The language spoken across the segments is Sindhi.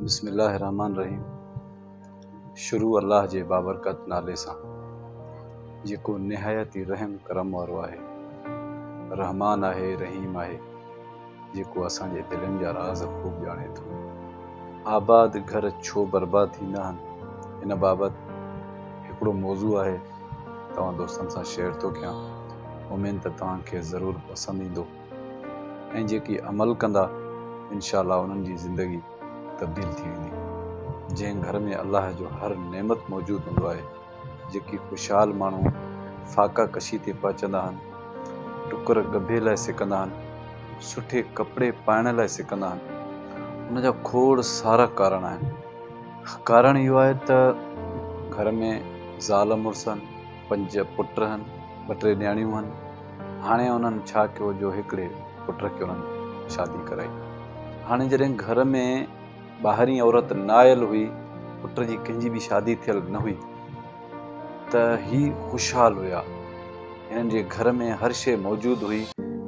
بسم الله الرحمٰن الرحيم شروع الله جي بابرڪت نالي سان جيڪو نهايت ئي رحم ڪرم وارو آهي رحمان آهي رحيم آهي جيڪو اسان جي دلين جا راز خوب ڄاڻي ٿو آباد گهر ڇو برباد ٿيندا آهن ان بابت هڪڙو موضوع آهي توهان دوستن سان شيئر ٿو ڪيان اميد ته توهان کي ضرور پسند ايندو ۽ جيڪي عمل ڪندا انشاء الله انهن جي زندگي تبديل ٿي ويندي جنهن گهر ۾ الله جو هر نعمت موجود هوندو آهي جيڪي خوشحال ماڻهو فاقا ڪشي تي پهچندا آهن ٽڪر ڳڀي لاء سڪندا آهن سٺي ڪپڙي پائڻ لاء سڪندا آهن ان جا کوڙ سارا ڪارڻ آهن ڪارڻ اهو آهي ته گهر ۾ زال مڙس پنج پٽ هن ٻه ٽي نياڻيون هن هاڻي انهن ڇا ڪيو جو هڪڙي پٽ کي انهن شادي ڪرائي. هاڻي جڏهن گهر ۾ ٻاهرين عورت نه آيل هئي، پٽ جي ڪنهن جي به شادي ٿيل نه هئي ته هي خوشحال هيا. هنن جي گهر ۾ هر شيء موجود هئي،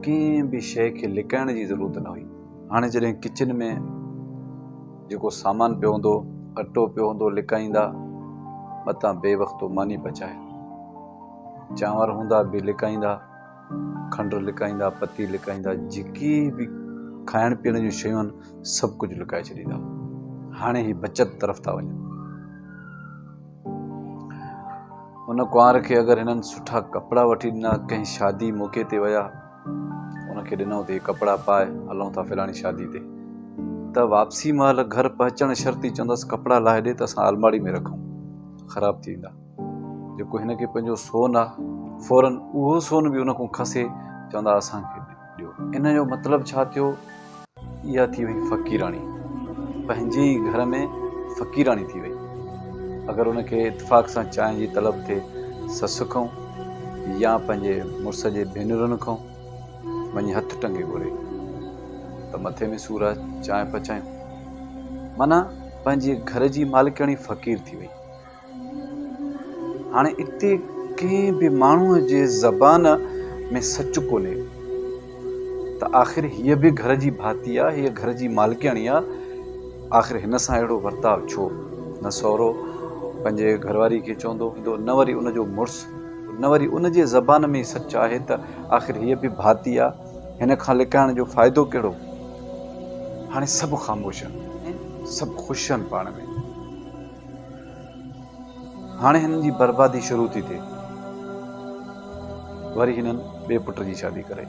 ڪنهن به شيء کي لڪائڻ جي ضرورت نه هئي. هاڻي جڏهن ڪچن ۾ جيڪو سامان پيو هوندو، اٽو پيو هوندو لڪائيندا، متان بي وقتو ماني پچائي. چانور هوندا به لڪائيندا، کنڊ لڪائيندا، پتي لڪائيندا، جيڪي به کائڻ پيئڻ جون شيون آهن سڀ ڪجهه لڪائي ڇڏيندا. هاڻي هي بچت طرف ٿا وڃن. ان ڪنوار کي اگر هنن سٺا ڪپڙا وٺي ڏنا، ڪنهن شادي موقعي تي ويا، ان کي ڏنائون ته هي ڪپڙا پائي هلون ٿا فلاڻي شادي تي، ته واپسي مهل گهر پهچڻ شرط ئي چوندس ڪپڙا لاهي ڏي ته اسان الماڙي ۾ رکون، خراب ٿي ويندا. جيڪو هن کي پنهنجو سون آ، فورن اهو سون به ان کان کسي چوندا اسان کي ڏيو. ان جو مطلب ڇا ٿيو؟ اها ٿي وئي فقيراڻي. پنهنجي ئي گهر ۾ فقيراڻي ٿي وئي. اگر ان کي اتفاق سان چانهه جي طلب ٿئي سس کان يا پنهنجي مڙس جي ڀينرن کان وڃي هٿ ٽنگي گهري ته مٿي ۾ سور آ چانهه پچايون. معنيٰ پنهنجي گهر جي مالڪياڻي فقير ٿي وئي. هاڻي اتي ڪنهن به ماڻهوء جي زبان ۾ سچ ڪونهي ته آخر هيء به گهر جي ڀاتي آ، هيء گهر جي مالڪياڻي آ، آخر هن سان اهڙو ورتاء ڇو؟ نه سهرو پنهنجي گهر واريء کي چوندو هوندو، نه وري ان جو مڙس، نه وري ان جي زبان ۾ ئي سچ آهي ته آخر هيء به ڀاتي آ، هن کان لڪائڻ جو فائدو ڪهڙو؟ هاڻي سڀ خاموش آهن ۽ سڀ خوش آهن پاڻ ۾. هاڻي هنن جي بربادي شروع ٿي ٿئي. وري هنن ٻئي پٽ جي شادي ڪرائي.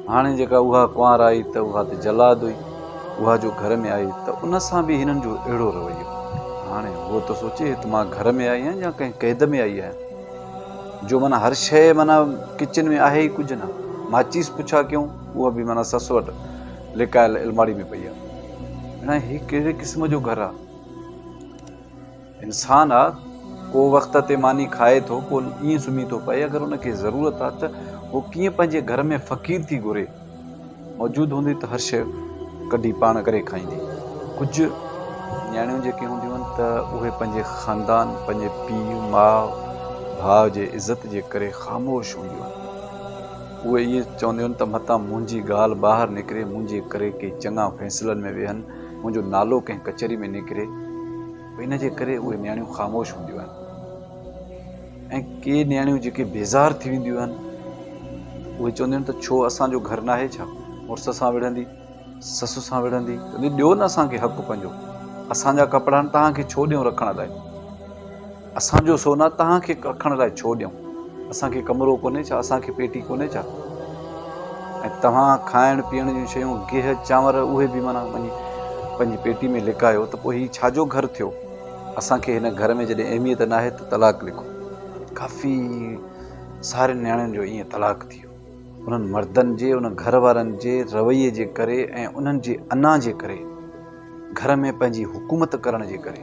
هاڻي جيڪا اها ڪنوار آئي ته اها ته جلاد هئي. اها جو گهر ۾ آئي ته ان سان به هنن جو اهڙو رويو. هاڻي هوء ته سوچي ته مان گهر ۾ آئي آهيان يا ڪنهن قيد ۾ آئي آهيان. جو معنيٰ هر شيء معنيٰ ڪچن ۾ آهي ئي ڪجهه نه. ماچيس پڇا ڪيون اها به معنيٰ سس وٽ. لڪايل الماڙي ۾ پئي آ اڙان هي ڪهڙي قسم جو گهر آ انسان آ ڪو وقت تي ماني کائي ٿو پو ائين سمهي ٿو پئي اگر ان کي ضرورت آ ته هو ڪيئن پنهنجي گهر ۾ فقير ٿي گهري موجود هوندي ته هر شيء ڪڍي پاڻ ڪري کائيندي ڪجهه نياڻيون جيڪي هونديون آهن ته اهي پنهنجي خاندان پنهنجي پيء ماء ڀاء جي عزت جي ڪري خاموش هونديون آهن اهي ائين چونديون ته متان منهنجي ڳالهه ٻاهر نڪري، منهنجي ڪري ڪي چڱا فيصلن ۾ ويهن، منهنجو نالو ڪنهن ڪچهري ۾ نڪري، ان جي ڪري اهي نياڻيون خاموش هونديون آهن ۽ ڪي نياڻيون جيڪي بيزار ٿي وينديون آهن، اهي چونديون ته ڇو اسان جو گهر ناهي ڇا مڙس سان وڙهندي؟ سس سان وڙهندي چوندي ڏيو نه اسان کي حق پنهنجو، اسان جا ڪپڙا توهان کي ڇو ڏيون رکڻ لاء، اسان جو سونا توهان کي رکڻ لاء ڇو ڏيون، اسان کي ڪمرو ڪونهي ڇا، اسان کي پيٽي ڪونهي ڇا ۽ توهان کائڻ پيئڻ جون شيون گيهه چانور اهي به معنيٰ وڃي پنهنجي پيٽي ۾ لڪايو ته پوء هي ڇا جو گهر ٿيو، اسان کي هن گهر ۾ جڏهن اهميت ناهي ته طلاق لکو. ڪافي سارين نياڻين جو ائين طلاق ٿي ويو. انهن مردن جي ان گهر وارن جي رويي جي ڪري ۽ انهن جي انا جي ڪري گهر ۾ پنهنجي حڪومت ڪرڻ جي ڪري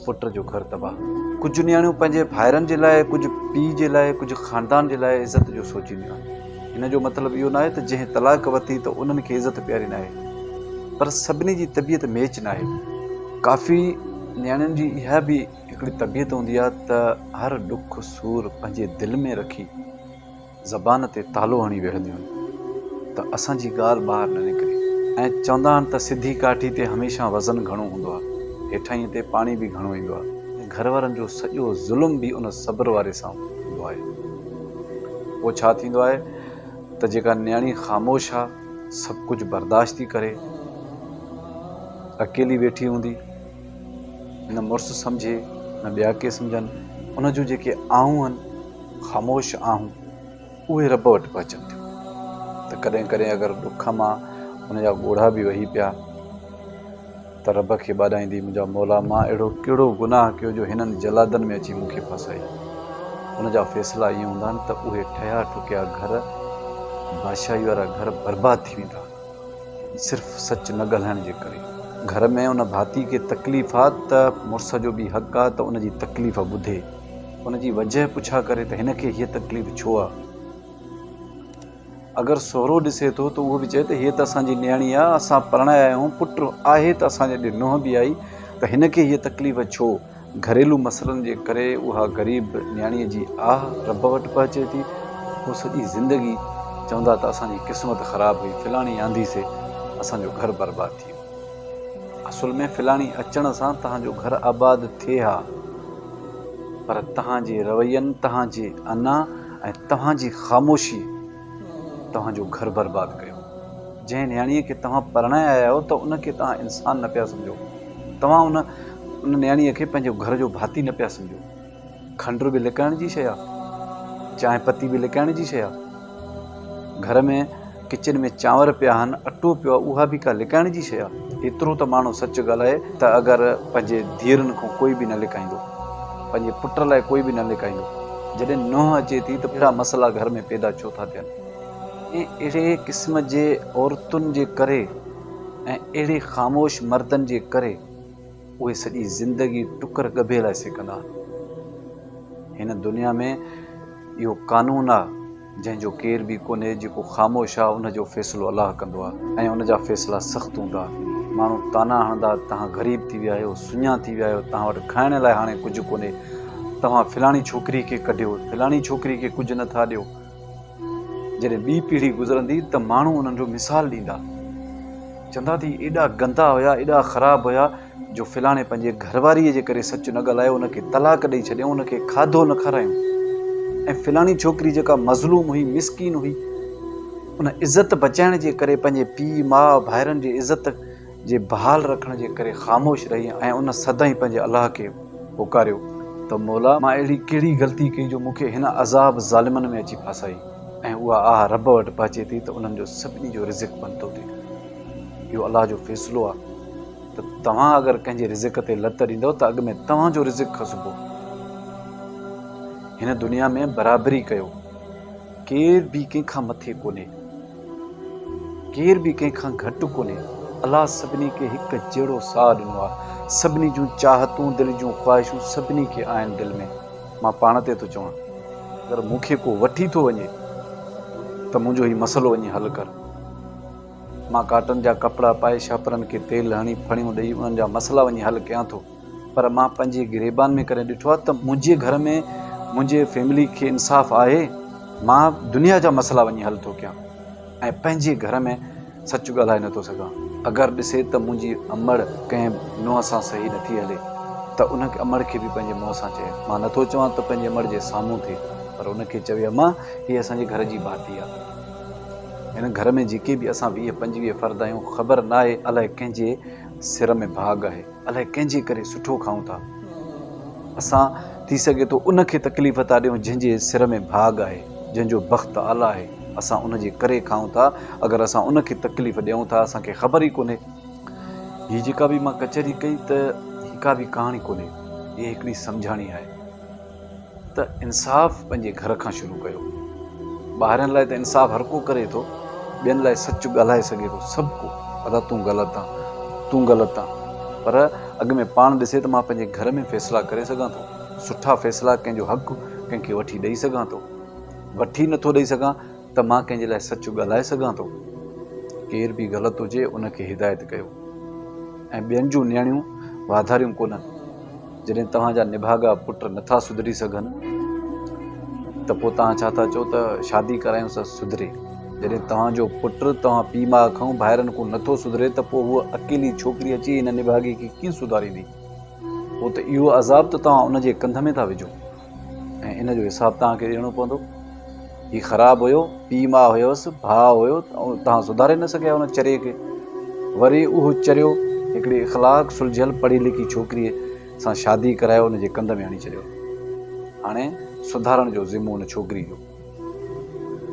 پٽ جو گهر تباهه ڪجهه نياڻيون پنهنجي ڀائرن جي لاء ڪجهه پيء جي لاء ڪجهه خاندان جي لاء عزت جو سوچينديون آهن ان جو مطلب اهو ناهي ته جنهن طلاق وتي ته انهن کي عزت پياري ناهي پر سڀني جي طبيعت ميچ ناهي ڪافي نياڻين جي اها به هڪڙي طبيعت هوندي آهي ته هر ڏک سور پنهنجي دل ۾ رکي زبان تي تالو هڻي ويهنديون آهن ته اسان جي ڳالهه ٻاهر نه نڪري ۽ چوندا آهن ته سڌي ڪاٺي تي هميشه وزن گهڻو هوندو آهي هيٺاهينء تي پاڻي به گهڻو ايندو آهي ۽ گهر وارن جو سڄو ظلم به ان صبر واري سان هوندو آهي پوء ڇا ٿيندو آهي ته جيڪا نياڻي خاموش آهي سڀ ڪجهه برداشت ٿي ڪري اڪيلي ويٺي هوندي نه مڙس سمجهي نه ٻيا ڪي سمجهن، ان جون جيڪي آهون هن خاموش آهون اهي رب وٽ پهچن ٿيون ته ڪڏهن ڪڏهن اگر ڏک مان ان جا ڳوڙها به وهي پيا ته رب کي ٻاڏائيندي منهنجا مولا مان اهڙو ڪهڙو گناهه ڪيو جو هنن جلادن ۾ اچي مون کي ڦاسائي ان جا فيصلا ائين هوندا آهن ته اهي ٺهيا ٺڪيا گهر بادشاهي وارا گهر برباد ٿي ويندا آهن. صرف سچ نه ڳالهائڻ جي ڪري گهر ۾ ان ڀاتي کي تڪليف آ ته مڙس جو به حق آ ته ان جي تڪليف ٻڌي ان جي وجه پڇا ڪري ته هن کي هيء تڪليف ڇو آ؟ اگر سهرو ڏسي ٿو ته اهو به چئي ته هيء ته اسان جي نياڻي آ اسان پرڻايا آهيون پٽ آهي ته اسان جي اڏي نونهن به آئي ته هن کي هيء تڪليف ڇو؟ گهريلو مسئلن جي ڪري اها غريب نياڻيء جي آهه رب وٽ پهچي ٿي، هو سڄي زندگي چوندا ته اسان جي قسمت خراب هئي، فلاڻي آندي سي اسان جو گهر برباد ٿي ويو. اصل ۾ فلاڻي اچڻ سان تهان جو گهر آباد ٿئي ها، پر تهان جي روين، تهان جي انا ۽ توهان جي خاموشي، توهان جو گهر برباد ڪيو. جنهن نياڻيء کي توهان پرڻائي آيا آهيو ته ان کي توهان انسان نه پيا سمجهو. توهان ان ان نياڻيء کي پنهنجو گهر جو ڀاتي نه پيا سمجهو. کنڊ به لڪائڻ جي شيء آهي. چانهه پتي به لڪائڻ جي شيء آهي. گهر ۾ ڪچن ۾ چانور پيا آهن، اٽو پيو آهي، اها به ڪا لڪائڻ جي شيء آهي. ايترو ته ماڻهو سچ ڳالهائي ته اگر پنهنجي ڌيئرن کان ڪوئي به نه لڪائيندو. پنهنجي پٽ لاء ڪوئي به نه لڪائيندو. جڏهن نوح اچي ٿي ته ٻيا مسئلا گهر ۾ پيدا ڇو ٿا ٿين ۽ اهڙي قسم جي عورتن جي ڪري ۽ اهڙي خاموش مردن جي ڪري اهي سڄي زندگي ٽڪر ڳڀي لاء سيڪندا. هن دنيا ۾ اهو قانون آ. جنهن جو ڪير به ڪونهي جيڪو خاموش آ ان جو فيصلو الله ڪندو آ ۽ ان جا فيصلا سخت هوندا ماڻهو طعنا هڻندا توهان غريب ٿي ويا آهيو سڃا ٿي ويا آهيو توهان وٽ کائڻ لاء هاڻي ڪجهه ڪونهي توهان فلاڻي ڇوڪري کي ڪڍيو فلاڻي ڇوڪري کي ڪجهه نه ٿا ڏيو جڏهن ٻي پيڙهي گذرندي ته ماڻهو انهن جو مثال ڏيندا چوندا ته ايڏا گندا هيا ايڏا خراب هيا جو فلاڻي پنهنجي گهر واريء جي ڪري سچ نه ڳالهايو، ان کي طلاق ڏئي ڇڏيائون، ان کي کاڌو نه کارايائون ۽ فلاڻي ڇوڪري جيڪا مظلوم هئي، مسڪين هئي، ان عزت بچائڻ جي ڪري پنهنجي پيء، ماء، ڀائرن جي عزت جي بحال رکڻ جي ڪري خاموش رهي ۽ ان سدائين پنهنجي الله کي پڪاريو ته مولا! مان اهڙي ڪهڙي غلطي ڪئي جو مون کي هن عذاب ظالمن ۾ اچي ڦاسائي ۽ اها آهه رب وٽ پهچي ٿي ته انهن جو سڀني جو رزق بند ٿو ٿئي. اهو الله جو فيصلو آهي. ته توهان اگر ڪنهن جي رزق تي لت ڏيندؤ ته اڳ ۾ توهان جو رزق کسبو. هن دنيا ۾ برابري ڪيو. ڪير به ڪنهن کان مٿي ڪونهي. ڪير به ڪنهن کان گهٽ ڪونهي. الله سڀني کي هڪ جهڙو ساهه ڏنو آهي. سڀني جون چاهتون، دل جون خواهشون سڀني کي آهن دل ۾. مان پاڻ تي ٿو چوان اگر مون کي ڪو وٺي ٿو وڃي ته منهنجو هي مسئلو وڃي حل ڪر. مان ڪاٽن جا ڪپڙا پائي شاپرن کي تيل هڻي ڦڻيون ڏئي انهن جا مسئلا وڃي حل ڪيان ٿو پر مان پنهنجي گريبان ۾ ڪڏهن ڏٺو آهي ته منهنجي گهر ۾ منهنجي فيملي کي انصاف آهي مان دنيا جا مسئلا وڃي حل ٿو ڪيان ۽ پنهنجي گهر ۾ سچ ڳالهائي نٿو سگهان اگر ڏسي ته منهنجي امڙ ڪنهن نونهن سان صحيح نٿي هلي ته ان امڙ کي به پنهنجي منهن سان چئي مان نٿو چوان ته پنهنجي امڙ جي سامهون ٿئي پر ان کي چوي امان هي اسان جي گهر جي ڀاتي آهي هن گهر ۾ جيڪي به اسان ويهه پنجويهه فرد آهيون، خبر ناهي الائي ڪنهن جي سر ۾ ڀاڳ آهي، الائي ڪنهن جي ڪري سٺو کائون ٿا. اسان ٿي سگهي ٿو ان کي تڪليف ٿا ڏيون جنهن جي سر ۾ ڀاڳ آهي، جنهن جو بخت اعليٰ آهي، اسان ان جي ڪري کائون ٿا، اگر اسان ان کي تڪليف ڏيون ٿا اسان کي خبر ئي ڪونهي. هي جيڪا به مان ڪچهري ڪئي ته هي ڪا به ڪهاڻي ڪونهي، هي هڪڙي سمجهاڻي آهي. ته انصاف پنهنجي گهر کان شروع ڪيو ٻاهرين لاء ته انصاف هر ڪو ڪري ٿو ٻين لاء سچ ڳالهائي سگهي ٿو سڀ ڪو ادا تون غلط آن تون غلط آن پر اڳ ۾ پاڻ ڏسي ته مان پنهنجي گهر ۾ فيصلا ڪري سگهان ٿو سٺا فيصلا ڪنهن جو حق ڪنهن کي وٺي ڏئي سگهان ٿو وٺي نه ٿو ڏئي سگهان ته مان ڪنهن جي لاء سچ ڳالهائي سگهان ٿو ڪير به غلط هجي ان کي هدايت ڪيو ۽ ٻين جون نيڻيون واڌاريون ڪونهن جڏهن توهان جا نڀاڳا پٽ نٿا سڌري سگهن ته پوء توهان ڇا ٿا چئو ته شادي ڪرايون سا سڌري. جڏهن توهان جو پٽ توهان پيء ماء کئون ڀائرن کون نٿو سڌري ته پوء هوء اڪيلي ڇوڪري اچي هن نڀاڳي کي ڪيئن سڌاريندي. پوء ته اهو عذاب ته توهان ان جي ڪنڌ ۾ ٿا وجهو. ۽ ان جو حساب توهان کي ڏيڻو پوندو. هي خراب هيو، پيء ماء هيس، ڀاء هيو، توهان سڌاري نه سگهيا ان چريي کي. وري اهو چريو هڪڙي اخلاق سلجهيل پڙهي لکي ڇوڪريء سان شادي ڪرائي ان جي ڪنڌ ۾ هڻي ڇڏيو. هاڻي سڌارڻ جو ذمو ان ڇوڪري جو.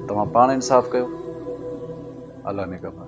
توهان پاڻ انصاف ڪيو. الله نگهبان.